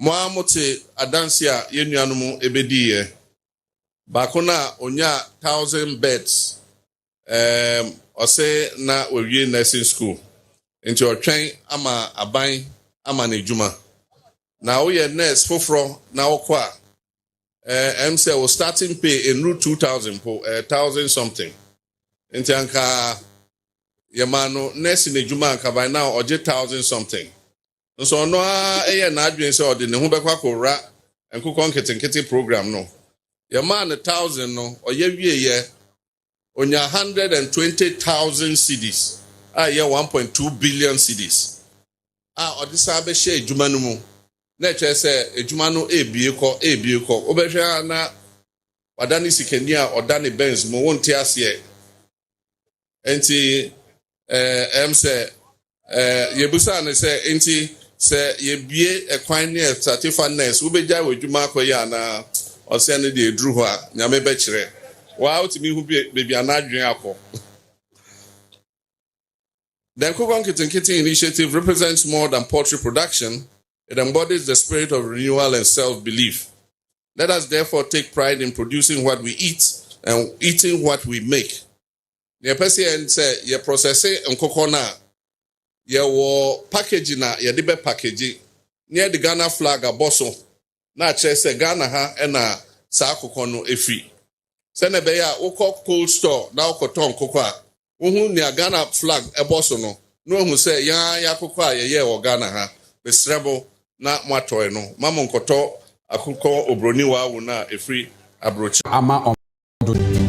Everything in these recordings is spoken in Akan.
Mo ara mote adanse a yɛn nuanom bediiɛ. Baako no a ɔnyaa thousand bets, ɛɛm, ɔse na wawie nursing school, nti ɔretwɛn ama aban ama no adwuma. Na woyɛ nurse foforɔ na wokɔ a, ɛɛ, ɛm sɛ wo starting pay nnuru two thousand mpo, ɛyɛ thousand something. Nti anka yɛmaa no nursing adwuma a anka by now ɔgye thousand something. nso ɔno ara yɛɛ n'adwene sɛ ɔde ne ho bɛkɔ akɔwura nkokɔ nketenkete program no. Yɛmaa no thousand no, ɔyɛ wieeɛ, ɔnyaa hundred and twenty thousand cedis a ɛyɛ one point two billion cedis a ɔde san bɛhyɛ adwuma no mu. Na ɛkyerɛ sɛ adwuma no rebue kɔ, rebue kɔ. Wobɛhwɛ ara na wadane sikani a ɔda ne Benz mu, wonte aseɛ. nti ɛm eh, sɛ eh, yɛbusaa no sɛ nti sɛ yɛbie ɛkwan ne ɛsatifa nurse wobɛgyae wɔ adwuma akɔyɛ anaa ɔsɛ no deɛ ɛduru hɔ a nyame bɛkyerɛ waa wotumi hu baabi ana adwene akɔ The Nkokon Kitinkiti initiative represents more than poultry production. It embodies the spirit of renewal and self-belief. Let us therefore take pride in producing what we eat and eating what we make. Nea ɛpɛ sɛ yɛn sɛ yɛ processing nkokɔ no a yɛwɔ package na yɛde bɛ package na yɛde Ghana flag abɔ so na akyerɛ sɛ Ghana ha na saa akokɔ no efiri. Sɛnea ɛbɛyɛ a wokɔ cold store na wokɔtɔ nkokɔ a wohu nea Ghana flag bɔ so no na wɔahu sɛ yɛn ara yɛn akokɔ a yɛyɛɛ wɔ Ghana ha. Mesrɛ mo na moatɔe no ma monkɔtɔ akokɔ oburoni wawo no a ɛfiri aburokyire. ama ɔman dodow no.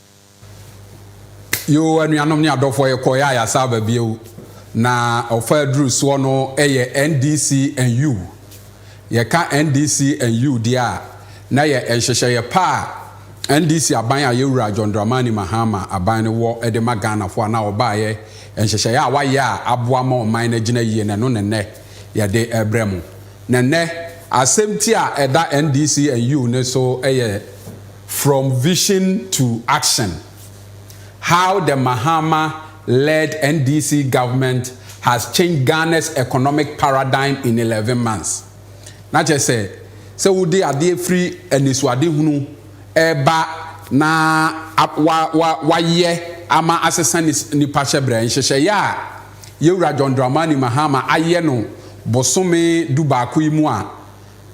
Yoo anuanom ne adɔfoɔ yɛkɔeɛ a yɛasan aba bio na ɔfa aduru soɔ no yɛ NDC and U. Yɛka NDC and U deɛ a na yɛ nhyehyɛeɛ pa a NDC aban a yɛwura John Dramani Mahama aban no wɔ de ma Ghanafoɔ a na ɔbaeɛ nhyehyɛeɛ a wayɛ a aboa ma ɔman no agyina yie na ɛno na nnɛ yɛde rebrɛ mo. Na nnɛ asɛmti a ɛda NDC and U no so yɛ From Vision to Action, How the Mahama led NDC government has changed Ghana's economic paradigm in eleven months. Na kyerɛ sɛ, sɛ wode adeɛ firi anisoadehunu reba na wa, wa, wayɛ ama asesa nipa hyɛbrɛ, nhyehyɛeɛ a Yɛwura John Dramani Mahama ayɛ no bosome dubaako yi mu a,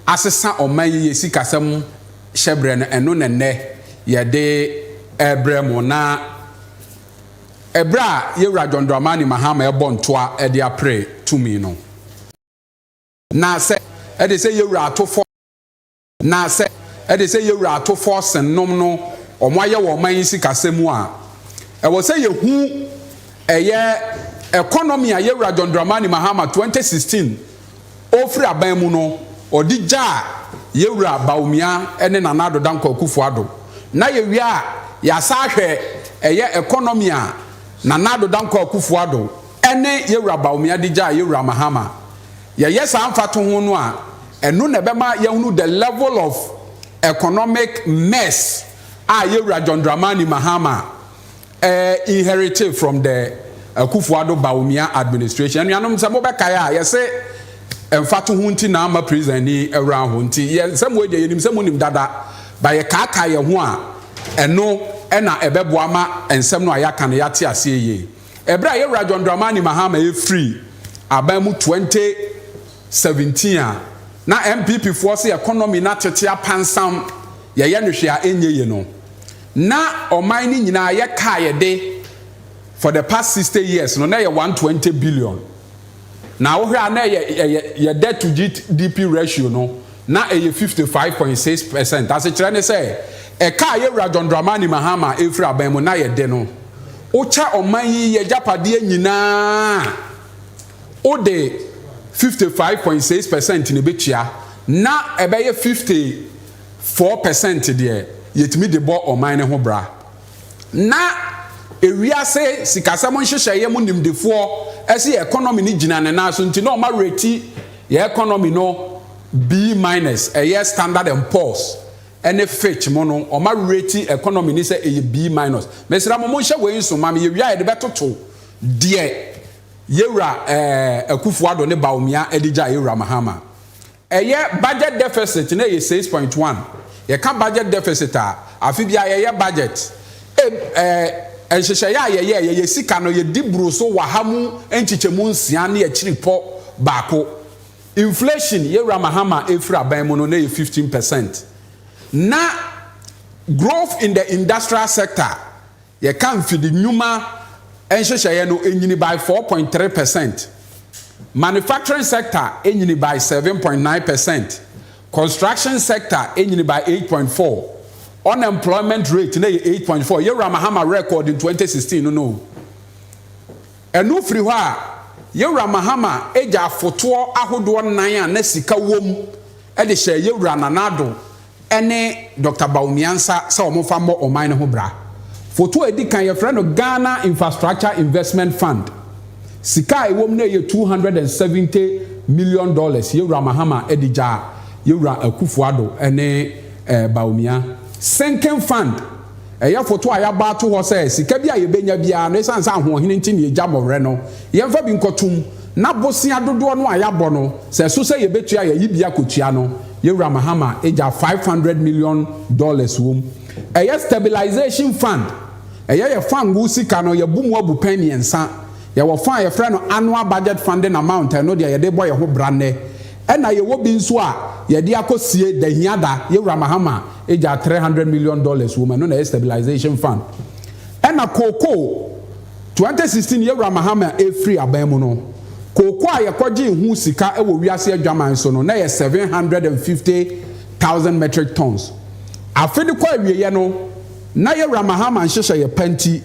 asesa ɔman yi yɛ sikasɛm hyɛbrɛ no ɛno na nnɛ yɛde ɛrebrɛ mo na ɛberɛ a Yɛwura John Dramani Mahama ɛrebɔ ntoa ɛde apre tumi no na sɛ ɛde sɛ Yɛwura ato fɔ na sɛ ɛde sɛ Yɛwura ato fɔ sen nom no wɔn ayɛ wɔ ɔman yi sikasɛm mu a ɛwɔ sɛ yɛhu ɛyɛ economy a Yɛwura John Dramani Mahama 2016 ɔrefiri aban mu no, ɔde gyaa yɛn wura Bawumia ne Nana Addo Dankwa Akufo Addo. Na yɛwie a, yɛasan ahwɛ ɛyɛ economy a Nana Addo Dankwa Akufo Addo ne yɛn wura Bawumia de gyaa yɛn wura Mahama. Yɛyɛ saa mfatoho no a, ɛno na ɛbɛma yɛahunu the level of economic mess a yɛn wura John Dramani Mahama eh, inherite from the Akufo-Addo Bawumia administration. Anuanom, sɛ mobɛkae a, yɛse mfatoho nti na ama prison ani awura ho, nti yɛ nsɛm wei deɛ yɛnim sɛ monim dada, but yɛkaakae yɛn ho a, ɛno na ɛbɛboa ma nsɛm no a yɛaka no yɛate aseɛ yie. Ɛberɛ a yɛn Wura John Dramani Mahama ɛfiri aban mu 2017 a, na NPP foɔ se economy no atete apansam, yɛyɛ no hwee a ɛnyɛ yie no, na ɔman no nyinaa yɛ kae de for the past sixty years no na ɛyɛ one twenty billion na wohwɛ a na ɛyɛ ɛyɛ yɛ debt to GDP ratio no na ɛyɛ fifty five point six percent asekyerɛ ne sɛ ɛka a yɛwura John Dramani Mahama efiri aban mu na yɛde no wokyɛ ɔman yi yɛ gyapadeɛ nyinaa wode fifty five point six percent na ebetua na ɛbɛyɛ fifty Four percent deɛ yɛtumi de bɔ ɔman no ho bra. Na ewiase sikasɛm nhyehyɛeɛ mu nimdefoɔ se yɛ economy no gyina ne nan so nti na ɔma rate yɛ economy no B minus, ɛyɛ Standard and Poor's ne Fitch mo no ɔma rate economy no sɛ ɛyɛ B minus. Mesrɛ mo monhyɛ wei nso ma me, yɛwie a yɛde bɛtoto deɛ yɛwura Akufo-Addo ne Bawumia de gyae yɛwura Mahama Ɛyɛ budget deficit na ɛyɛ six point one. Yɛka budget deficit a, afe biara yɛyɛ budget. Eb, Nhyehyɛeɛ a yɛyɛ, yɛyɛ sika no yɛdi boro so waha mu nkyekyɛmu nsia ne akyiripɔ baako. Inflation, yɛn wura Mahama ɛfiri aban mu no, na ɛyɛ fifteen percent. Na growth in the industrial sector Yɛka mfidi nnwuma nhyehyɛeɛ no ɛnyini by four point three percent, manufacturing sector ɛnyini by seven point nine percent, construction sector ɛnyini by eight point four, unemployment rate no ɛyɛ eight point four, Yawura Mahama record in twenty sixteen no no ɛno firi hɔ a Yawura Mahama gya afotoɔ ahodoɔ nan a na sika wɔ mu de hyɛɛ Yawura Nana Addo ne Dɔkta Bawumiansa sɛ wɔmfa mmɔ ɔman no ho bra. Foto a edi kan, Wɔfrɛ no Ghana Infrastructure Investment Fund. Sika a ɛwom no yɛ two hundred and seventy million dollars, Yewura Mahama de gyaa Yewura Akufo-Addo ne Bawumia. Sinking Fund. Ɛyɛ foto a yɛabɔ ato hɔ sɛ sika bi a yɛbɛnya biara no, ɛsiane sɛ ahoɔhene nti na yɛgya mmɔwerɛ no, yɛmfa bi nkɔtom, na bosea dodoɔ no a yɛabɔ no, sɛ ɛso sɛ yɛbɛtua a, yɛayi bi akɔtua no. Yɛn Wura Mahama gyaa five hundred million dollars wom. Ɛyɛ stabilisation fund. Ɛyɛ yɛ fund no sika no, yɛabu mu abu pɛn mmiɛnsa. Yɛwɔ fund a yɛfrɛ no annual budget funding amount, ɛno deɛ yɛde rebɔ yɛn ho bra nnɛ. Ɛna yɛwɔ bi nso a yɛde akɔ sie da hiada yɛ wura mahama gyaa three hundred million dollars wɔ mu ɛno na ɛyɛ stabilization fund ɛna cocoa twenty sixteen yɛ wura mahama ɛfiri aban mu no cocoa a yɛkɔ gyee ho sika wɔ wiase adwaman so no na ɛyɛ seven hundred and fifty thousand metric tons afe no kɔ awieɛ no na yɛ wura mahama nhyehyɛeɛ pa nti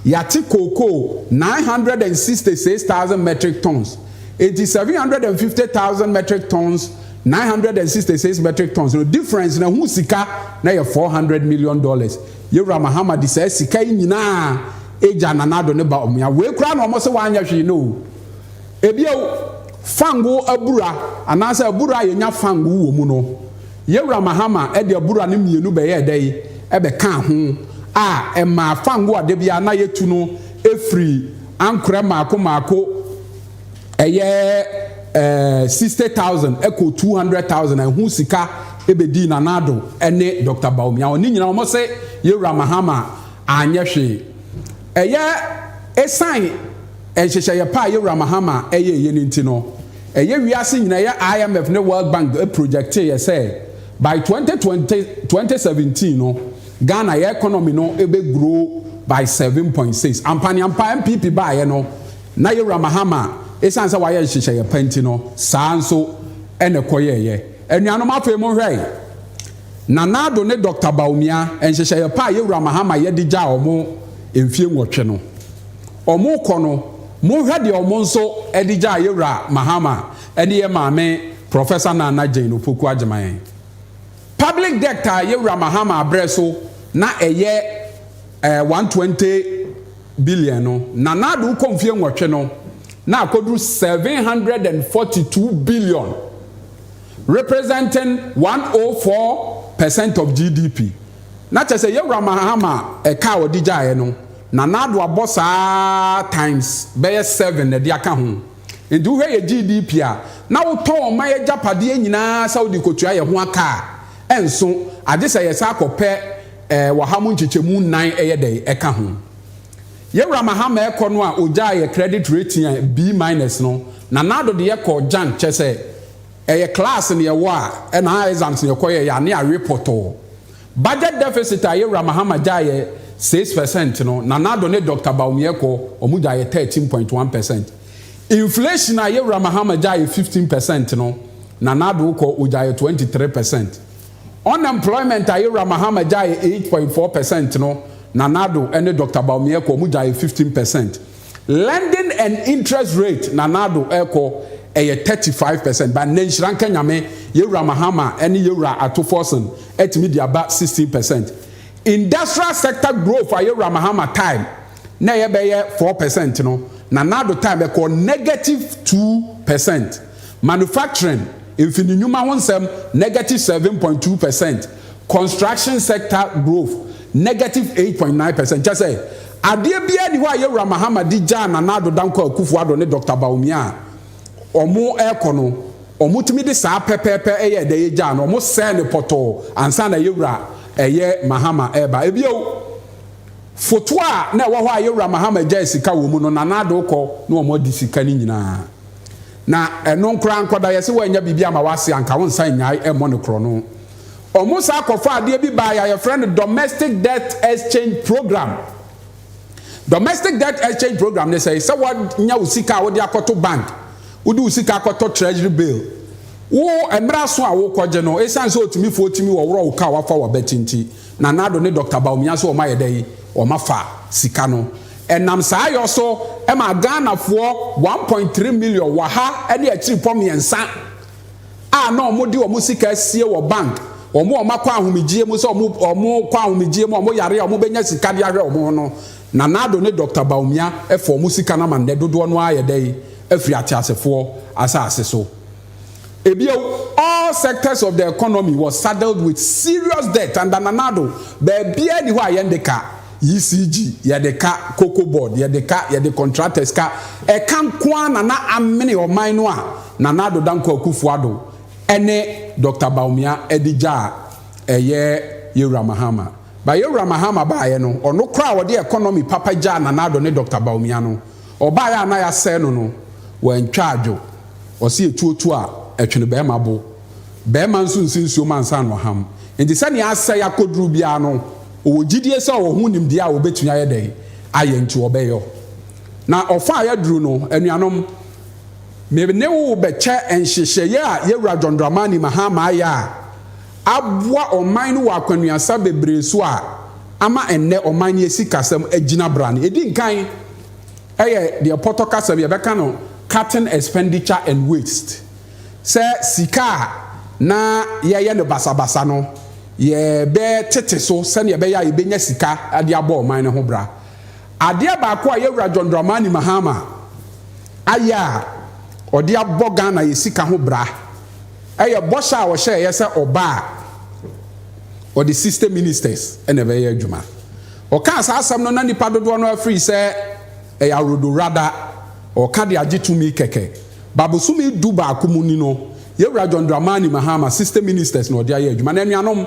yɛate cocoa nine hundred and sixty six thousand metric tons Enti seven hundred and fifty thousand metric tons, nine hundred and sixty six metric tons no difference no ɛho sika na yɛ four hundred million dollars. Yewura Mahama de saa sika yi nyinaa egya Nana Addo ne ba Omoya. Wei koraa na wɔn se wɔanyɛ hwee no o. Ebio, fango abura anaasɛ abura a yenya fango wɔ mu no, Yewura Mahama de abura no mmienu bɛyɛɛ dɛ yi bɛkaa ho a ɛmaa fango a da biara na yetu no firi ankorɛ mmaako mmaako ɛyɛ ɛɛ sixty thousand ɛkɔ two hundred thousand ɛho sika ɛbɛdii Nana Addo ɛne Dr. Bawumia wɔn ne nyinaa wɔn se yɛwura Mahama anyɛ hwee ɛyɛ esan nhyehyɛeɛ pa a yɛwura Mahama ɛyɛ ɛyɛ ne nti no ɛyɛ wiase nyinaa ɛyɛ IMF ne World Bank projecteeɛ sɛ by twenty twenty twenty seventeen no. Ghana yɛ economy no bɛ grow by seven point six. Ampa ne ampa NPP baeɛ no na yɛwura Mahama ɛsiane sɛ wayɛ nhyehyɛeɛ pa nti no saa nso na ɛkɔyɛeɛ. Anuanom afei mo nhwɛ Nana Addo ne Doctor Bawumia nhyehyɛeɛ pa a yɛwura Mahama yɛ de gyaa wɔn mfie nwɔtwe no wɔkɔ no mo nhwɛ deɛ wɔn nso de gyaa yɛwura Mahama ne yɛn maame Professor Nana Jane Opoku Agyemang. Public debt a Yawura Mahama abrɛ so na ɛyɛ eh, 120 billion no, Nana Addo kɔ mfie nwɔtwe no, na akɔduru 742 billion, representing 104 percent of GDP. Na kyerɛ sɛ Yawura Mahama ɛka a ɔde gyaeɛ no, Nana Addo abɔ saa times bɛyɛ seven na ɛde aka ho. Enti wohwɛ yɛ GDP a, na wotɔn ɔman agyapadeɛ nyinaa sɛ wode kɔtua yɛ ho aka a, ɛnso, agye sɛ yɛsan kɔpɛ wɔ ha mu nkyekyɛmu nnan ɛyɛ dɛn ɛka ho. Yɛ Wura Mahama ɛkɔ no a ɔgyaa yɛ credit rating a B minus no, Nana Addo de yɛ kɔɔ Jamb, kyɛsɛ ɛyɛ class na yɛwɔ a ɛna exams na yɛkɔ yɛyɛ a na yɛawe pɔtɔɔ. Budget deficit a Yawura Mahama gyae yɛ six percent no, Nana Addo ne Dɔkta Bawumia kɔ, wɔn gyae yɛ thirteen point one percent. Inflation a Yawura Mahama gyae yɛ fifteen percent no, Nana Addo kɔ, ɔgyae yɛ twenty three percent. Unemployment a Yawura Mahama gyae yɛ eight point four percent no, Nana Addo ne Dɔkta Bawumia kɔ, wɔn gyae yɛ fifteen percent. Lending and interest rate Nanado ɛkɔ ɛyɛ 35 percent but nnɛ nhyira nka Nyame yɛwura Mahama ɛne yɛwura Ato Forson ɛtumi de aba 16 percent. Industrial sector growth a yɛwura Mahama time na ɛyɛ bɛyɛ 4 percent no Nanado time ɛkɔ negative 2 percent. Manufacturing, mfini nnwuma ho nsɛm, negative 7.2 percent. Construction sector growth negative eight point nine percent, kyerɛ sɛ, adeɛ biara nni hɔ a Yawura Mahama de gyaa Nana Addo Dankwa Akufo Addo ne Dɔkta Bawumia a wɔrekɔ no, wɔtumi de saa pɛpɛɛpɛ yɛɛ dɛ gyaa no, wɔsɛɛ no pɔtɔɔ ansa na Yawura ɛyɛ Mahama reba. Bio, foto a na ɛwɔ hɔ a Yawura Mahama gyae sika wɔ mu no, Nana Addo kɔ na wɔadi sika no nyinaa. Na ɛno nko ara nkɔda yɛ sɛ woannya biribi ama w'ase a, anka wonsan nnyae mmɔ no korɔno. Wɔsan kɔfaa adeɛ bi baeɛ a yɛfrɛ no Domestic Debt Exchange Program. Domestic Debt Exchange Program ne sɛe, sɛ woanya wo sika a wode akɔto bank, wode wo sika akɔtɔ Treasury Bill, wo mmerɛ aso a worekɔgye no, ɛsiane sɛ ɔtimifoɔ tumi wɔworɔ wo ka a wafa w'abati nti, Nana Addo ne Dɔkta Bawumia nso wɔayɛ dɛn, wɔafa sika no. Ɛnam saa yɔ so maa Ghanafoɔ one point three million wɔ ha ne akyirepɔ mmiɛnsa a na wɔde wɔn sika asie wɔ bank, wɔn a wɔakɔ ahomegyeɛ mu sɛ wɔn wɔkɔ ahomegyeɛ mu a wɔyare a wɔbɛnya sika de ahwɛ wɔn ho no, Nana Addo ne Dɔkta Bawumia fa wɔn sika no ama nnɛ dodoɔ no ara ayɛ dɛn, afiri ateasefoɔ asase so. Ebia all sectors of the economy was saddled with serious debt under Nana Addo. Baabiara ni hɔ a yɛn de ka ECG, yɛde ka Cocoa Board, yɛde ka, yɛde contractors ka. Ɛka nko ara na na amene ɔman no a Nana Addo Dankwa Akufo-Addo ne Doctor Bawumia de gya a ɛyɛ Yawura Mahama. But Yawura Mahama baeɛ no, ɔno koraa a ɔde economy papa gyaa Nana Addo ne Doctor Bawumia no, Ɔbaeɛ a na yɛasɛe no no, wantwa adwo. Wɔse etuo tu a, ɛtwene barima bo. Barima nso nsi nsuo mu ansa na ɔham. Enti sɛdeɛ asɛe akɔduru biara no, ɔwɔ gyidie sɛ ɔwɔ ho nimdeɛ a ɔbɛtumi ayɛ dɛn ayɛ nti ɔbɛyɔ. Na ɔfa a yɛaduru no, anuanom, me ne wo bɛkyɛ nhyehyɛeɛ a yɛn Wura John Dramani Mahama ayɛ a aboa ɔman no wɔ akwannuasa bebree so a ama ɛnnɛ ɔman no asikasɛm agyina brane. Ɛdi nkan. yɛ deɛ pɔtɔ kasa bi yɛbɛka no cutting expenditure and waste sɛ sika a na yɛyɛ no basabasa no yɛbɛtete so sɛdeɛ ɛbɛyɛ a yɛbɛnya sika de abɔ ɔman no ho bra. Adeɛ baako a Yawura John Dramani Mahama ayɛ a ɔde abɔ Ghana yɛ sika ho bra yɛ bɔhyɛ a ɔhyɛeɛ sɛ ɔba a ɔde 60 ministers na ɛbɛyɛ adwuma. Ɔkaa saa asɛm no na nnipa dodoɔ no ara firii sɛ ɛyɛ awerdowrada ɔɔka de agye tumi kɛkɛ. Ba bosome du baako mu ni no, Yɛwura John Dramani Mahama 60 ministers na ɔde ayɛ adwuma. Na anuanom,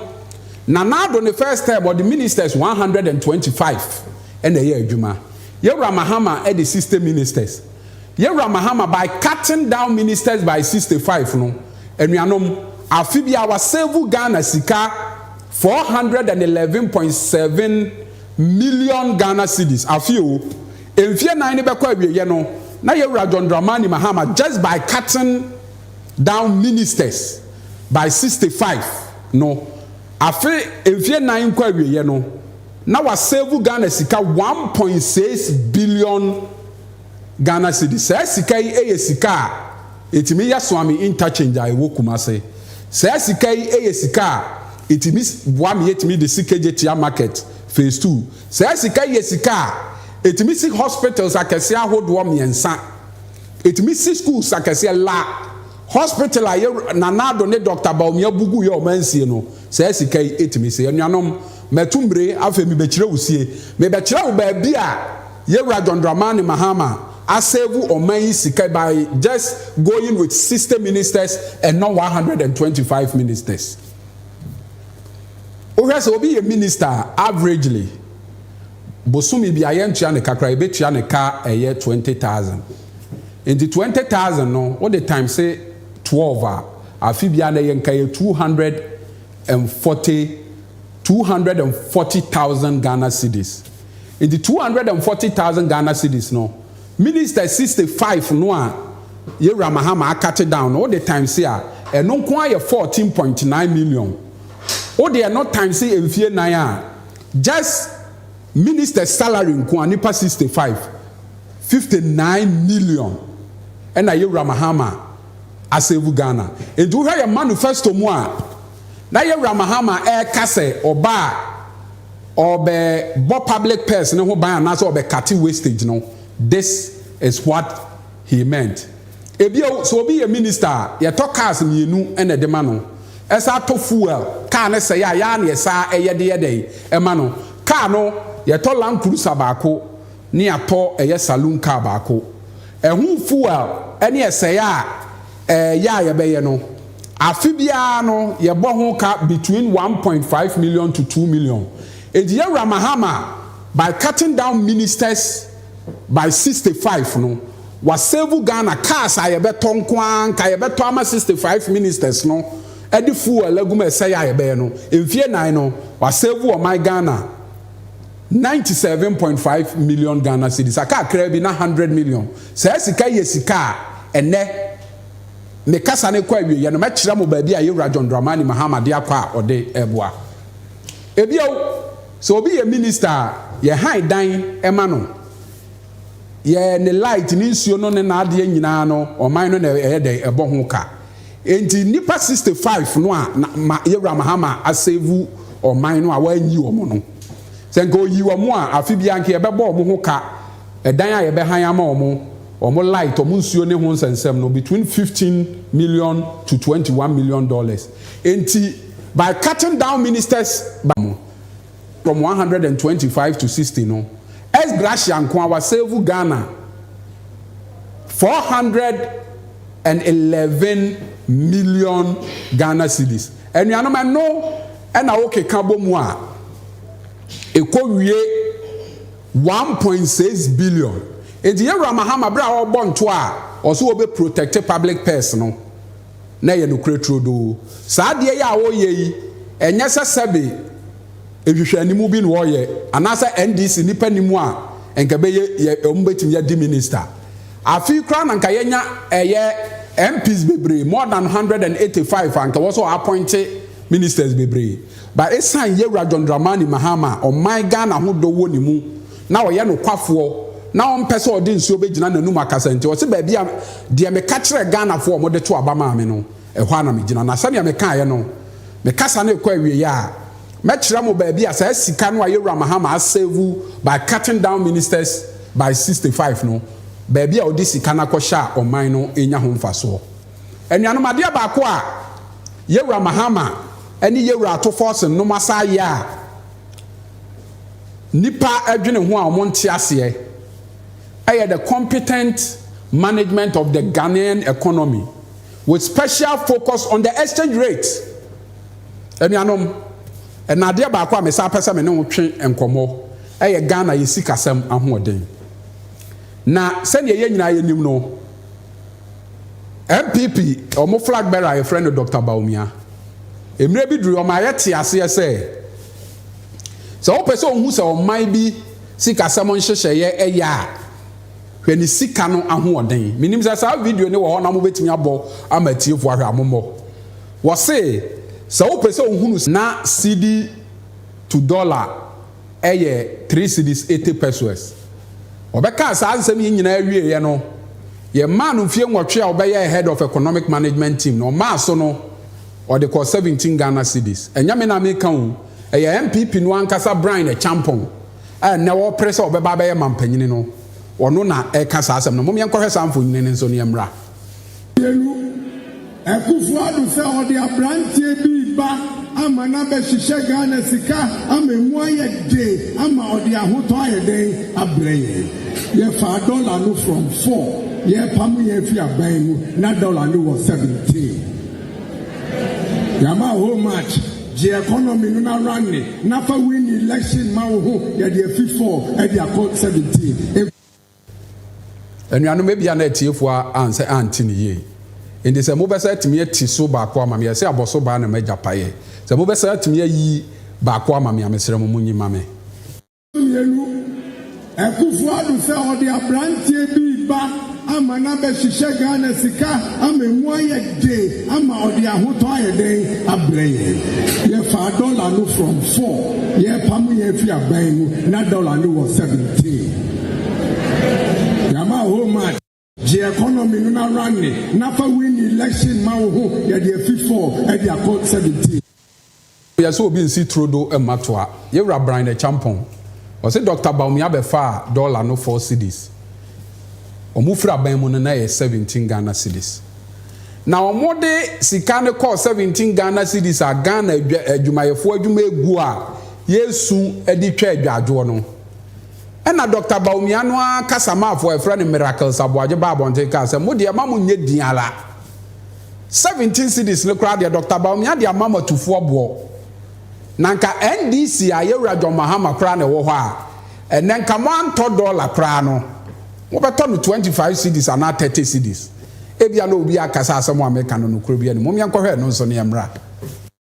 Nana Addo ne first term ɔde ministers 125 na ɛyɛɛ adwuma. Yɛwura Mahama de 60 ministers. Yɛwura Mahama by cutting down ministers by 65 no, anuanom, afe biara wasevu Ghana sika. Four hundred and eleven point seven million Ghana cedis afe o mfie nan no bɛkɔ awieyɛ no na yɛwura John Dramani Mahama just by cutting down ministers by sixty five no afe mfie nan nkɔ awieyɛ no na wa save Ghana sika one point six billion Ghana cedi. Saa sika yi yɛ sika a ɛtumi yɛ soame interchange a ɛwɔ Kumase. Saa sika yi yɛ sika a ɛtumi boa me yɛtumi de si Kegyetia market phase two. Saa sika yi yɛ sika a ɛtumi si hospitals akɛseɛ ahodoɔ mmiɛnsa. Ɛtumi si schools akɛseɛ, la hospital a yɛ Nana Addo ne Doctor Bawumia Bugu yɛ ɔman sie no, saa sika yi ɛtumi si. Anuanom, matu mmire, afei mebɛkyerɛ wo sie. Mebɛkyerɛ wo baabi a Yɛwura John Dramani Mahama asɛvu ɔman yi sika by just going with sixty ministers and not one hundred and twenty five ministers. Wohwɛ sɛ obi yɛ minister a averagely bosome bia yɛntua ne kakra yɛbɛtua ne ka ɛyɛ twenty thousand. Nti twenty thousand no wode times twelve a afe bia na ɛyɛ nka yɛ two hundred and forty two hundred and forty thousand Ghana cedis. Enti two hundred and forty thousand Ghana cedis no, ministers sixty five no a Yewura Mahama akate down no, wo de times a, ɛno nko ara yɛ fourteen point nine million. Wo de ɛno times mfie nan a, just ministers salary nko ara, nnipa sixty five, fifty nine million ɛna Yewura Mahama asave Ghana. Enti wohwɛ yɛn manifesto mu a, Na Yawura Mahama reka sɛ ɔba a ɔrebɛbɔ public purse no ho ban anaasɛ ɔbɛkate wastage no, this is what he meant. Ebio, sɛ obi yɛ minister a, yɛtɔ cars mmienu na ɛde ma no. Ɛsan tɔ fuel, car no sɛe a, yɛ ara na yɛsan yɛ de yɛ dɛn? ma no. Car no, yɛtɔ Land Cruiser baako na yɛatɔ ɛyɛ saloon car baako. Ɛho fuel ne ɛsɛe a, Ɛyɛ a yɛbɛyɛ no, afe biara no yɛbɔ ho ka between one point five million to two million. Enti Yawura Mahama by cutting down ministers by sixty five no, wasevu Ghana. Cars a yɛbɛtɔ nko ara, nka yɛbɛtɔ ama sixty five ministers no de fuel agu mu a ɛsɛe a yɛbɛyɛ no, mfie nnan no, wasevu ɔman Ghana. ninety seven point five million Ghana cedis, a kakraa bi na hundred million. Saa sika yi yɛ sika a ɛnnɛ me kasa no rekɔ awieeɛ no mɛkyerɛ mo baabi a Yewura John Dramani Mahama de akɔ a ɔde reboa. Ebio, sɛ obi yɛ minista a, yɛhan dan ma no, yɛ ne light, ne nsuo no ne n'adeɛ nyinaa no, ɔman no na ɛyɛ dɛn? Ɛbɔ ho ka. Enti nnipa 65 no a na ma Yawura Mahama asevu ɔman no a wɔanyi wɔn no, sɛ nka ɔyi wɔn a, afe biara nka yɛbɛbɔ wɔn ho ka, ɛdan a yɛbɛhan ama wɔn, wɔn light, wɔn nsuo ne ho nsɛnsɛm no, between 15 million to 21 million dollars. Enti by cutting down ministers by wɔn, tɔm one hundred and twenty five to sixty no, S. Gracia nko ara wasɛɛvu Ghana four hundred and eleven million Ghana cedis. Anuanom, ɛno na wokeka bɔ mu a, ɛkɔwie one point six billion. Enti Yɛwura Mahama berɛ a ɔrebɔ ntoa a ɔse ɔbɛ protect public purse no, na ɛyɛ nokorɛ turodoo. Saa adeɛ yi a wɔreyɛ yi, ɛnyɛ sɛ sɛbe nhwehwɛanimu bi na wɔreyɛ, anaasɛ NDC nnipa nni mu a nka ɛbɛyɛ yɛ wɔbɛtumi adi minister. Afei koraa na nka yɛanya ɛyɛ MPs bebree, more than hundred and eighty five a nka ɛwɔ sɛ wɔ appoint ministers bebree. But ɛsiane Yɛwura John Dramani Mahama a ɔman Ghana ho dɔ wɔ ne mu, Na ɔyɛ nokwafoɔ na ɔmpɛ sɛ ɔde nsuo bɛgyina n'anum akasa nti ɔse baabi a deɛ meka kyerɛɛ Ghanafoɔ a wɔde to aba maa me no ɛhɔ ara na megyina na sɛdeɛ mekaeɛ no me kasa no rekɔ awieɛ a mɛkyerɛ mo baabi a saa sika no a Yawura Mahama asɛvu by cutting down ministers by sixty five no baabi a ɔde sika no akɔhyɛ a ɔman no renya ho mfasoɔ. Anuanom adeɛ baako a Yawura Mahama ne Yawura Ato Forson nom asan ayɛ a nnipa dwene ho a wɔnte aseɛ yɛ the competent management of the Ghanaian economy with special focus on the exchange rate. Anuanom, ɛna adeɛ baako a mesan pɛ sɛ me ne wo twe nkɔmmɔ yɛ Ghana yɛ sikasɛm ahoɔden. Na sɛdeɛ yɛn nyinaa yɛnim no, NPP wɔn flag bearer a yɛfrɛ no Dr. Bawumia, mmerɛ bi duru wɔn ayɛ te aseɛ sɛ Sɛ wopɛ sɛ wuhu sɛ ɔman bi sikasɛm nhyehyɛe ye a, hwɛ ne sika no ahoɔden. Minnim sɛ saa video no wɔ hɔ na mubetumi abɔ ama atiefo ahwɛ a, mommɔ. Wɔse sɛ wopɛ sɛ wuhu no. Ná cedi to dɔla yɛ three cedis, eighty pesewas. Wɔbɛkaa saa nsɛm yi nyinaa wieeɛ no, yɛmaa no mfeɛ nwɔtwe a ɔbɛyɛɛ head of economic management team no. Ɔmaa so no, Ɔde kɔɔ seventeen Ghana cedis. Ɛnyɛ me na meka oo, ɛyɛ NPP no ankasa Brian Acheampong a ɛnnɛ wɔrepere sɛ ɔbɛba abɛyɛ mampanyini no, ɔno na ɛreka saa asɛm no. Mom yɛnkɔhwɛ saa mfonini no nso na yɛmmra. Yɛnu Akuffo Addo sɛ ɔde abranteɛ bi reba ama no abɛhyehyɛ Ghana sika ama ɛmu ayɛ den ama ɔde ahotɔ ayɛ dɛn abrɛ yɛn. Yɛfaa dɔla no from four, yɛrepamo yɛn afi aban mu na dɔla no wɔ seventeen. Yama whole match gye economy no na run ne na fa win election ma wo ho yɛde afi four ɛde akɔ seventeen. Anuanom ebia na atiefo ansɛ ante no yie enti sɛ mo bɛsa atumi ati so baako ama me ɛse abɔso baa na magya paeɛ sɛ mo bɛsa atumi ayi baako ama me a mesrɛ mo mo nyi ma me. Mmienu, Akuffo Addo sɛ ɔde abranteɛ bi reba ama no abɛhyehyɛ Ghana sika ama ɛmu ayɛ den ama ɔde ahotɔ ayɛ dɛn abrɛ yɛn. Yɛfaa dɔla no from four, yɛrepamo yɛn afiri aban mu, na dɔla no wɔ seventeen. Yɛama whole march. Gye economy no na runne na fa win election ma wo ho yɛde afi four ɛde akɔ seventeen. Yɛ sɛ obi nsi turo do mma toa. Yewura Brine Acheampong, ɔse Doctor Bawumia bɛfaa dollar no four cedis. Ɔmo firi aban mu no na ɛyɛ seventeen Ghana cedis. Na ɔmo de sika no kɔɔ seventeen Ghana cedis a Ghana adwumayɛfoɔ adwuma aguo a yɛresu de twa adwadwoɔ no Ɛnna Dɔkta Bawumia no ara kasamafo a wɔfrɛ no Miracles Aboagye baa abɔnten kaa sɛ, Mo deɛ, mma monnyɛ din ara. Seventeen cedis no koraa deɛ, Dɔkta Bawumia de ama mo atufoɔ boɔ. Na anka NDC a Yawura John Mahama koraa na ɛwɔ hɔ a, ɛnnɛ anka moantɔ dɔla koraa no, mobɛtɔ no twenty five cedis anaa thirty cedis. Ebia na obi aka sɛ asɛm a meka no nokorɛ biara nni mu. Mom yɛnkɔhwɛ ɛno nso na yɛmmra.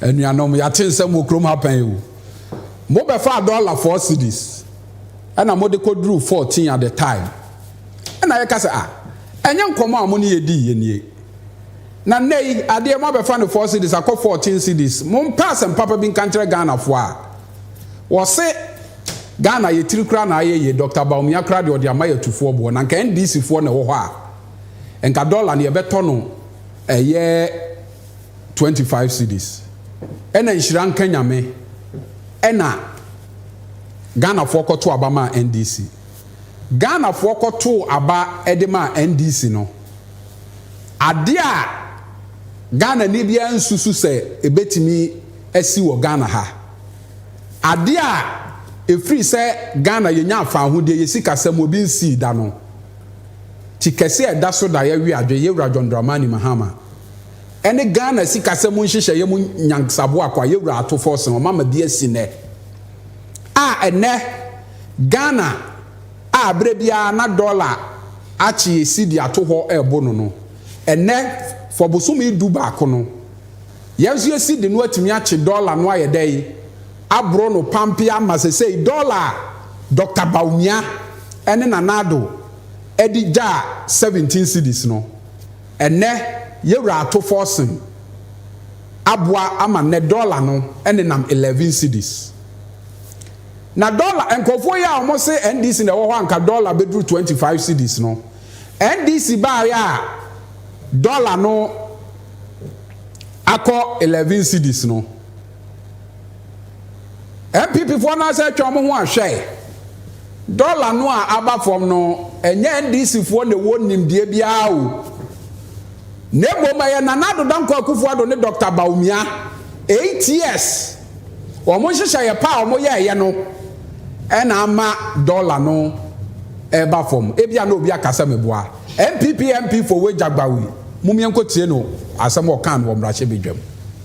Anuanom, yɛate nsɛm wɔ kurom ha pɛn o. Mobɛfaa dɔla four cedis ɛna mode kɔduruu fourteen at the time. Ɛna yɛka sɛ, ah, ɛnyɛ nkɔmmɔ a mo ne yɛ dii yɛ nie. Na nnɛ yi, adeɛ moabɛfa no four cedis akɔ fourteen cedis. Mompɛ asɛm papa bi nka nkyerɛ Ghanafoɔ a. Wɔse Ghana yɛ tiri koraa na ayɛ yie, Doctor Bawumia koraa deɛ ɔde ama yɛ atufoɔ boɔ. Na nka NDCfoɔ na ɛwɔ hɔ a, nka dɔla no yɛbɛtɔ no ɛyɛ twenty five cedis ɛna nhyira nka nyame ɛna Ghana foɔ kɔto aba maa NDC Ghana foɔ kɔto aba ɛde maa NDC no adeɛ a Ghana ni biara nsusu sɛ ɛbɛtumi asi wɔ Ghana ha adeɛ a ɛfiri sɛ Ghana yɛnya afaahodeɛ yɛ sikasɛm obi nsii da no ti kɛse a ɛda so da yɛwe adwe yɛwura John Dramani Mahama ɛne Ghana sikasɛm nhyehyɛeɛ mu nyansaboa Kwaye Wura Ato Forson ɔmama bi asi nnɛ a ɛnnɛ Ghana a berɛ biara na dɔla akyee sidi ato hɔ ɛrebo no no, ɛnnɛ for bosome du baako no, yɛn nso yɛ sidi no atumi akye dɔla no ayɛ dɛn? Aboro no pampe ama sesei dɔla a Dɔkta Bawumia ɛne Nana Addo ɛde gyaa 17 sidis no, Ɛnnɛ, yɛn wura ato fɔɔsen aboa ama nnɛ dɔla no nenam eleven cedis. Na dɔla, nkurɔfoɔ yi a wɔn se NDC na ɛwɔ hɔ a nka dɔla bɛduru twenty five cedis no, NDC baeɛ a dɔla no akɔ eleven cedis no, NPP foɔ no asɛ atwa wɔn ho ahwɛ. Dɔla no a aba fam no, ɛnyɛ NDC foɔ na ɛwɔ nimdeɛ biara o. Na mmom ɛyɛ Nana Addo Dankwa Akufo Addo ne Dɔkta Bawumia. Eight years. Wɔn nhyehyɛeɛ pa a wɔyɛɛyɛ no ɛna ama dɔla no ɛreba fam. Ebia na obi aka sɛ meboa. NPP MP for Wejagbawi, mom yɛnkɔtie no asɛm a ɔkaa no wɔ mmarahyɛbadwam.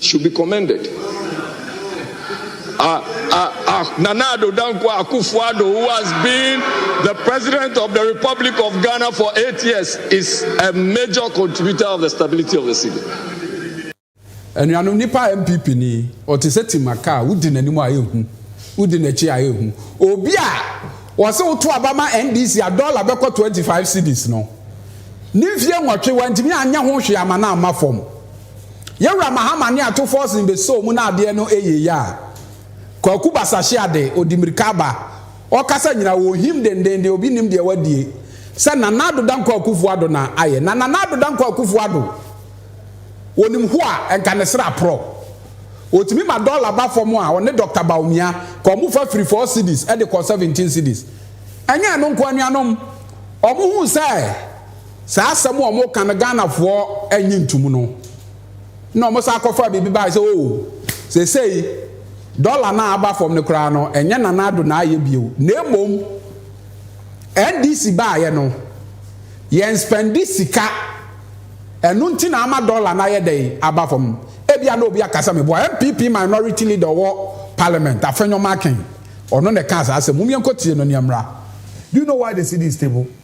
Should be commended. Ah, ah, ah, Nana Addo Dankwa Akufo-Addo, who has been the president of the Republic of Ghana for eight years, is a major contributor of the stability of the city. Anuanom nipa MPP ni, ɔte sɛ timaka a wodi n'anim a ehu, wodi n'akyi a ehu. Obi a wɔse woto aba ma NDC a dɔla bɛkɔ 25 cedis no, ne mfie nwɔtwe wantumi anyɛ ho hwee ama no amma fam. Yɛn Wura Mahama ne atofoɔ sen bɛsoo mu na adeɛ no ɛyɛ yie a, Kwaku Basahye Ade, ɔdi mirika aba, ɔkasa nyina ɔhim dendenden, obi nnim deɛ wadie, sɛ Nana Addo Dankwa Akuffo Addo na ayɛ, na Nana Addo Dankwa Akuffo Addo, ɔnim ho a, nka ne srɛ aporɔ. Ɔtumi ma dɔla ba fam a, ɔne Dɔkta Bawumia, ka wɔn fa firi four cedis de kɔ seventeen cedis. Ɛnyɛ ɛno nko anuanom, wɔn hu sɛ, Saa asɛm a wɔka no Ghanafoɔ nnye ntom no, na wɔsan kɔfaa biribi baeɛ sɛ, oh, seesei dɔla no a aba fam no koraa no, ɛnyɛ Nana Addo na ayɛ bio, na mmom NDC baeɛ no, yɛnspɛnde sika, ɛno nti na ama dɔla no ayɛ dɛn, aba fam. Ebia na obi aka sɛ meboa. NPP minority leader a ɔwɔ Parliament, Afenyo Markin, ɔno na ɛkaa saa asɛm. Mommenkɔtie no na yɛmmra. Do you know why the cedi is stable?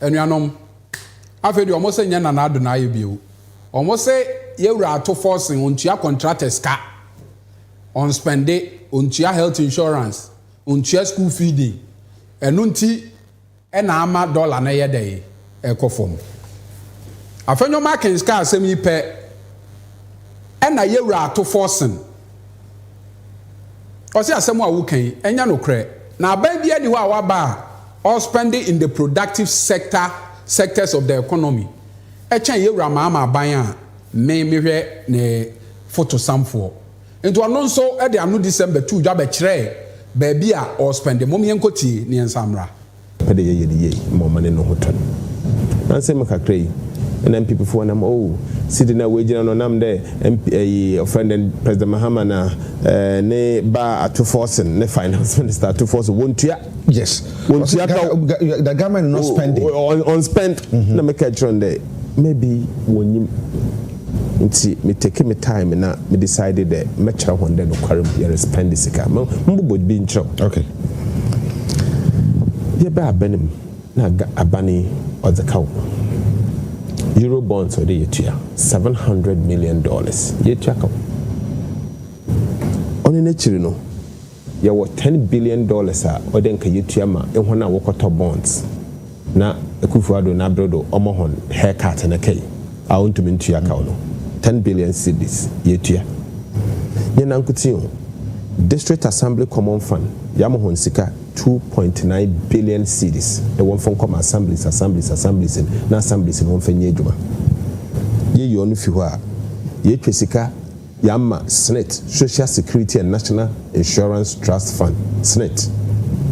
Anuanom, afei deɛ wɔse nyɛ Nana Ado na ayɛ bio. Wɔse yɛwura ato forcing, ɔntua contractors ka, ɔnspɛnde, ɔntua health insurance, ɔntua school feeding. Ɛno nti na ama dollar no yɛ dɛn? Ɛkɔ fam. Afenyo Markins kaa asɛm yi pɛ na yɛwura ato forcing. Ɔse asɛm a woka yi ɛnyɛ nokorɛ. Na aban biara nni hɔ a waba a ɔ spend in the productive sector, sectors of the economy kyɛn Yɛwura Mahama aban a me mehwɛ ne fotosamfoɔ. Nti ɔno nso de anodisɛm bɛtoo dwa bɛkyerɛɛ baabi a ɔ spend. Mom yɛnkɔtie ne yɛnsan mmra. pɛ dɛ yɛyɛ no yie ma ɔma n'enyi ho tɔ no. Ansa mu kakra yi, nna MPPfoɔ nam oh, seat no a woegyina no ɔnam dɛ MP ayi wɔfrɛ no dɛn President Mahama na eh, ne ba Ato Forson ne Finance Minister Ato Forson wɔntua. Yes, wɔsi Ghana the government not spending. Ɔnspend na mekɛɛ kyerɛ no dɛ maybe wɔnnyim. Ntsi me take me time na me decide dɛ mɛkyerɛ hɔn dɛ nokwar mu yɛre spend sika. Mo mobobɔ bi nkyerɛ wo. Okay. Yɛbaa aban mu na aban yi ɔdze ka wo. Euro bonds ɔwɔ dɛ yetua seven hundred million dollars yetua ka wo. Ɔno n'ekyir no. Yɛwɔ ten billion dollars a ɔdɛ nka yetua ma ehɔn a wɔkɔtɔ bonds na Akuffo Addo n'aber do ɔma hɔn hair cut no kɛe a onntum nntua kaw no. Ten billion cedis yetua. Nye nankotsee o, District Assembly Common Fund yɛama hɔn sika two point nine billion cedis dɛ wɔmfa nkɔ ma assemblies assemblies assemblies n' assemblies n' wɔmfa nyɛ edwuma. Yeyi ɔno fi hɔ a, yetwa sika. Yɛama Snit, Social Security and National Insurance Trust Fund, Snit,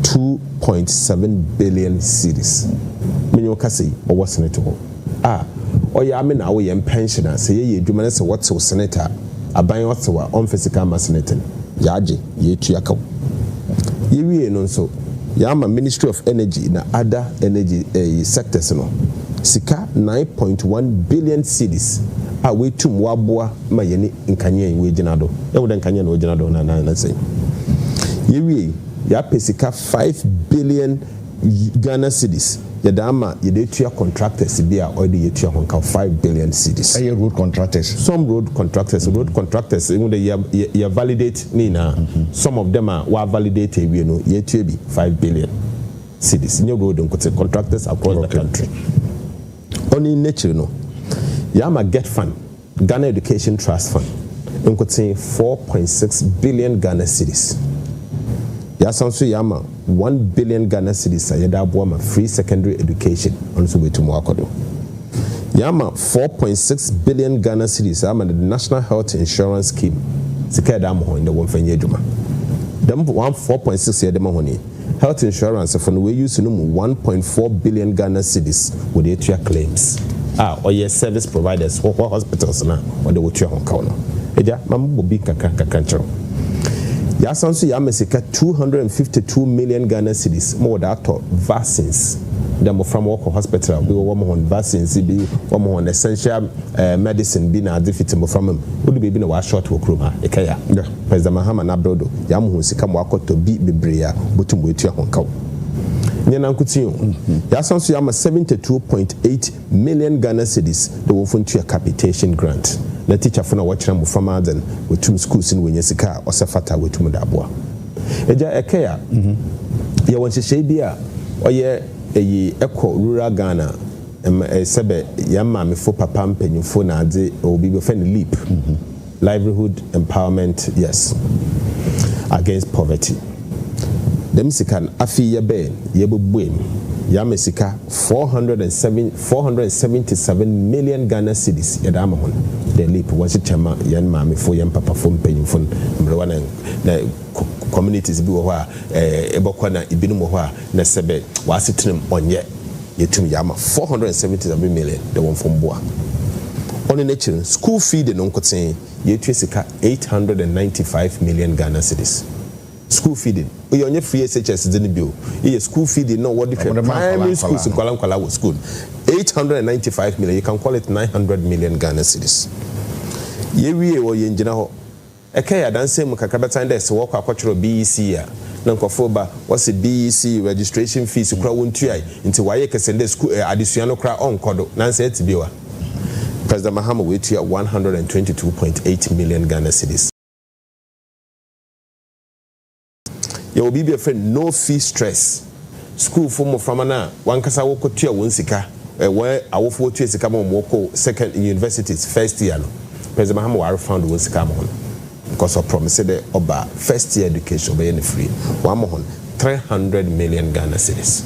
two point seven billion cedis. Me nye wo kasa yi, ɔwɔ Snit hɔ. A, ɔyɛ a me na awo yɛn pɛnhyen a, sɛ yɛyɛ adwuma na sɛ wɔtew Snit a, aban ɔtew a, ɔmfa sika mma Snit no. Yɛagye, yɛatua kaw. Yɛwiei no nso, yɛama Ministry of Energy na other energy ɛyi sectors no sika nine point one billion cedis a wɔatum wɔaboa, ma yɛne nkanea yi woegyina do. Yehu dɛ nkanea na ogyina do na na na sɛ yewiei, yɛapɛ sika five billion Ghana cedis yɛdze ama yɛdze etua contractors bi a ɔyɛ dɛ yetua hɔn kaw five billion cedis. Ɛyɛ road contractors? Some road contractors, road contractors ehu dɛ yɛ yɛ yɛ validate ne nyina. Some of them a wɔavalidate ewie no yetua bi five billion cedis. Nnyɛ road nkotse, contractors across the country. Ɔno n'ekyir no, yɛama GETFund. Ghana Education Trust Fund nkotsee four point six billion Ghana cedis. Yɛasan so yɛama one billion Ghana cedis a yɛdze aboa ma free secondary education, ɔno so oetum ɔakɔ do. Yɛama four point six billion Ghana cedis ama the National Health Insurance Scheme, sika a yɛdze ama hɔn dɛ wɔmfa nyɛ edwuma. Dɛm one four point six a yɛdze ma hɔn yi, Health insurance fo no wɔ use no mu one point four billion Ghana cedis wɔde atua claims a ɔyɛ service providers hɔ hɔ hospitals no a ɔde wɔtua ho kaw no. Agya, ma me bɔ bi nkakra nkakra nkyerɛ wo. Yɛasan nso yɛama sika two hundred and fifty two million Ghana cedis ma wɔde atɔ vaccines dɛ mmofra ma wɔkɔ hospital a obi wɔ wɔma hɔn vaccines bi, wɔma hɔn essential eh medicine bi na adze fitsi mmoframa mu. Odu beebi na wɔashort wɔ kurom ha, ekɛyɛ a. President Mahama no aber do dze ama hɔn sika ma wɔakɔtɔ bi beberee a wobotum woetua hɔn kaw. Nnyɛ nankotsee o, yɛasan so yɛama seventy two point eight million Ghana cedis dɛ wɔmfa ntua capitation grant na teacherfo no a wɔkyerɛ mboframba adze no woetum skuuls no woenya sika a ɔsɛ fata a woetum dze aboa. Egya Ɛkɛy a, yɛwɔ nhyehyɛɛ bi a ɔyɛ eyi kɔ rural Ghana ma sɛbɛ hɛn maamefo, papa, mpanyimfo na adze, ɔwɔ biribi wɔfrɛ no LEAP. Livelihood Empowerment Yes Against Poverty dɛm sika no afei yɛbɛ yɛbɛbue no yɛama sika four hundred and seven four hundred and seventy seven million Ghana cedis yɛde ama hɔn dɛ leap wɔnkyekyɛ mma yɛn maamefo yɛn papafo mpanyimfo no mberewa na na communities bi wɔ hɔ a ɛɛ ebɔkɔ na ebinom wɔ hɔ a na sɛbɛ wɔasetena mu ɔnyɛ Yɛtum yɛ ama four hundred and seventy seven million dɛ wɔmfa mboa. Ɔno n'ekyir no, skuul fee de no nkotsee, yeetua sika eight hundred and ninety five million Ghana cedis. Skuul fee de, iyi ɔnnyɛ free SHS dze no bio, iyi yɛ skuul fee de no a wɔdze hwɛ primary schools nkwadaa nkwadaa wɔ skuul no. Eight hundred and ninety five million, you can call it nine hundred million Ghana cedis. Yewie hɔ, yenngyina hɔ. Ɛkã yɛ adansɛm mu kakra bɛtsan dɛ sɛ wɔkɔ akɔtwerɛw BEC a, na nkorɔfo reba, wɔse BEC registration fees koraa wonntuae, ntsi wɔayɛ kɛse ndɛ skuul eh, adesua no koraa ɔnnkɔ do, na nnsɛ etse bio a, President Mahama oetua one hundred and twenty two point eight million Ghana cedis. Yɛwɔ biribi a yɛfrɛ no no fee stress. Sukuufo mmoframma no a w'ankasa wokotua wɔn sika, wɔn awofo wotua sika ma wɔn wɔkɔ second universities first year no, President Mahama wa refund wɔn sika ama wɔn because ɔ promise dɛ ɔba a first year education ɔbɛyɛ no free. W'ama wɔn three hundred million Ghana cedis,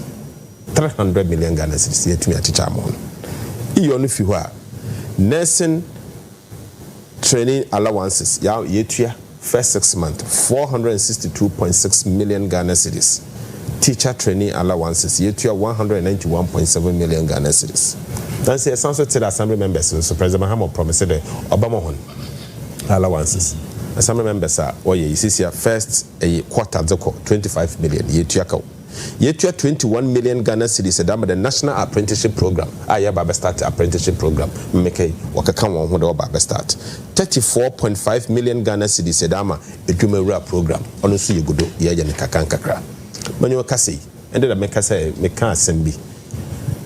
three hundred million Ghana cedis yɛatumi akyekyɛ ama wɔn. Iyɔ no fi hɔ a, nursing. Training allowances ya yetua first six month four hundred and sixty two point six million Ghana cedis, teacher training allowances yetua one hundred and ninety one point seven million Ghana cedis. Nanso yɛsan nso tse dɛ assembly members no nso President Mahama ɔprɔmise dɛ ɔbɛma hɔn allowances. Assembly members a wɔyɛ yi sesei a first ɛye quarter dze kɔ twenty five million yetua kaw. Yɛtua twenty one million Ghana cedis ɛda ma the national apprenticeship program a yɛreba abɛ start apprenticeship program mmeka yi wɔkeka wɔn ho dɛ wɔba abɛ start thirty four point five million Ghana cedis ɛda ama adwuma wura program ɔno nso yɛgu do yɛɛyɛ no nkakra nkakra manya ɔkasa yi ɛnde na meka sɛ meka asɛm bi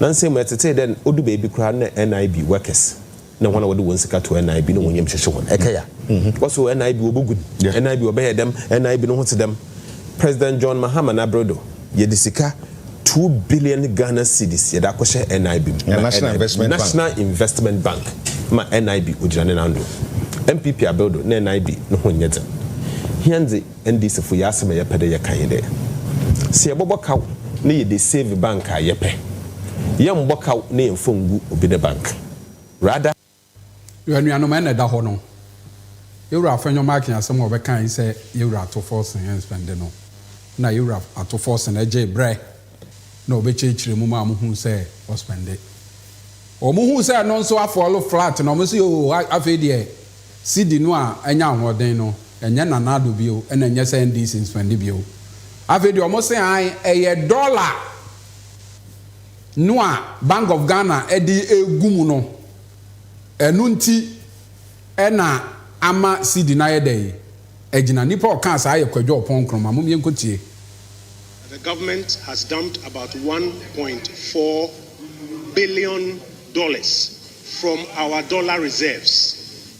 nansa mu ɛtetee dɛ odu baabi koraa na NIB workers na hɔn a wɔdze hɔn sika toa NIB na hɔn yamu hyehye hɔn. Ɛkɛyɛ a, wɔse NIB wɔbogu no, NIB wɔbɛyɛ dɛm, NIB no ho tse dɛm. President John Mahama n'aber do, yɛdze sika two billion Ghana cedis yɛdze akɔhyɛ NIB mu ma NIB, National Investment Bank, ma NIB ogyina ne nan do. NPP aber do nna NIB no ho nnyɛ dzen. Hɛn dze NDC fo yɛ asɛm a yɛpɛ dɛ yɛka nye dɛ, sɛ yɛbɔbɔ kaw na yɛdze save bank a, yɛpɛ. Yɛmmbɔ kaw na yɛmmfa nngu obi ne bank. rather. Yo anuanom ɛna ɛda hɔ no yɛwura afɛnyɔ marking asɛm a ɔbɛka yi sɛ yɛwura ato forsen ɛnspɛnde no na yɛwura ato forsen ɛgyee brɛ na ɔbɛkyerɛkyerɛ mu maa ɔmo huu sɛ ɔspɛnde ɔmo huu sɛ ɛno nso afɔlo flat na ɔmo se oo afei deɛ sidi no a ɛnya ahoɔden no ɛnyɛ nanado bio ɛna ɛnyɛ sɛ NDC nspɛnde bio afei deɛ ɔmo se an ɛyɛ dɔla no a Bank of Ghana de regu mu no, ɛno nti na ama cedi no ayɛ dɛn agyina. Nnipa a ɔkaa saa yɛ Kwadwo Ɔpɔn Nkrumah. Mom yɛnkɔtie. The government has dumped about one point four billion dollars from our dollar reserves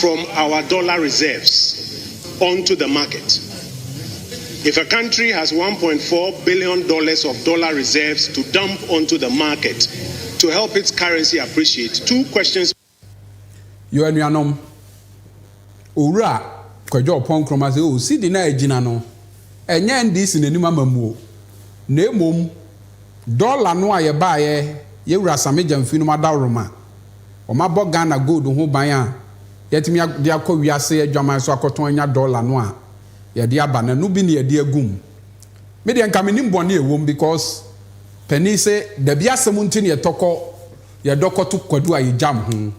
from our dollar reserves onto the market. If a country has one point four billion dollars of dollar reserves to dump onto the market to help its currency appreciate, two questions. Yo anuanom, Owura Kwadwo Ɔpɔn Nkrumah se o, cedi no a agyina no, ɛnyɛ NDC na anim ama mu o, na mmom dollar no a yɛbaeɛ yɛn Wura Asame Gyamfi nom adaworoma. Wɔabɔ Ghana gold ho ban a yɛatumi de akɔ wiase adwaman so akɔtɔn anya dɔla no a yɛde aba no, ɛno bi na yɛde agu mu. Me deɛ nka mennim bɔne a ɛwɔ mu because panin se dabi asɛm nti na yɛtɔ kɔ, yɛdɔ kɔto kwadu a yɛgyam ho.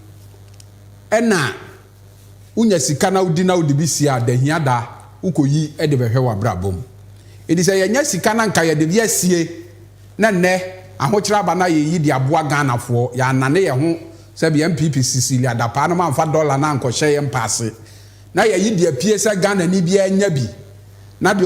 Ɛna. wonya sika na wodi na wode bi sie a da hia da wokoyi de bɛhwɛ w'abrabɔ mu. Enti sɛ yɛanya sika na nka yɛde bi asie na nnɛ ahokyerɛ aba na yɛyi de aboa Ghanafoɔ, yɛannane yɛn ho sɛdeɛ NPP Cecilia Dapaah no mamfa dɔla no ankɔhyɛ yɛn mpaase na yɛyi de apue sɛ Ghanani biara nya bi na deɛ